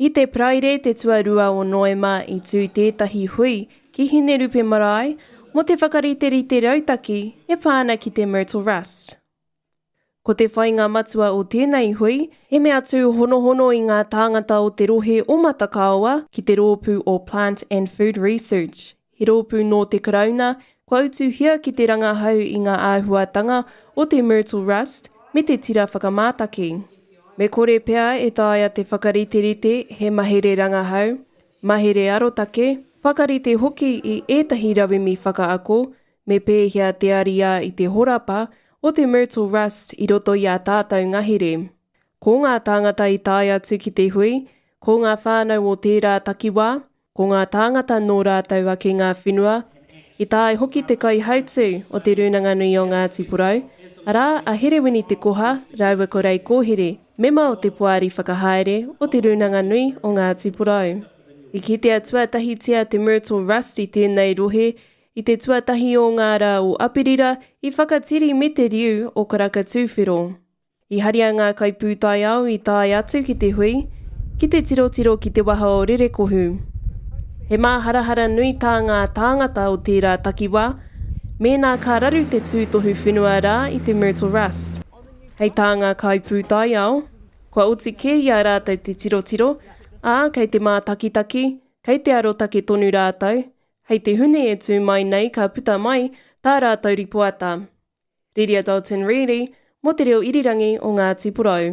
I te Paraire te tuarua o Noema i tū tētahi hui ki Hinerupe Marae mō te whakariterite rautaki e pā ana ki te Myrtle Rust. Ko te whainga matua o tēnei hui, he mea tūhonohono i ngā tāngata o te rohe o Matakaoa ki te rōpū o Plant and Food Research, He rōpū nō te Karauna, kua utuhia ki te rangahau i ngā āhuatanga o te myrtle rust me te tira whakamātaki. Me kore pea e taea te whakariterite he mahere rangahau, mahere arotake, whakarite hoki i ētahi rauemi whakaako me pēhea te ariā i te horapa o te myrtle rust i roto i ā tātou ngahere. Ko ngā tāngata i tae atu ki te hui, ko ngā whānau o tērā takiwā, Ko ngā tāngata nō rātou ake ngā whenua, i tae hoki te kaihautū o Te Rūnanga Nui o Ngāti Porou, arā, a Herewini Te Koha rāua ko Ray Kōhere, mema o te Poari Whakahaere o Te Rūnanga Nui o Ngāti Porou. I kitea tuatahitia te Myrtle Rust i tēnei rohe i te tuatahi o ngā rā o Aperira, i Whakatiri me te riu o Karaka Tūwhero. I haria ngā kaipūtaiao i tae atu ki te hui, ki te tirotiro ki te waha o Rerekohu. He māharahara nui tā ngā tāngata o tērā takiwā mēnā ka raru te tūtohu whenua rā i te Myrtle Rust. Hei tā ngā kaipūtaiao, kua oti kē i a rātou te tirotiro, ā, kei te mātakitaki, kei te arotake tonu rātou, hei te Hune e tū mai nei ka puta mai tā rātou ripoata. Riria Dalton Reedy mō te reo irirangi o Ngāti Porou.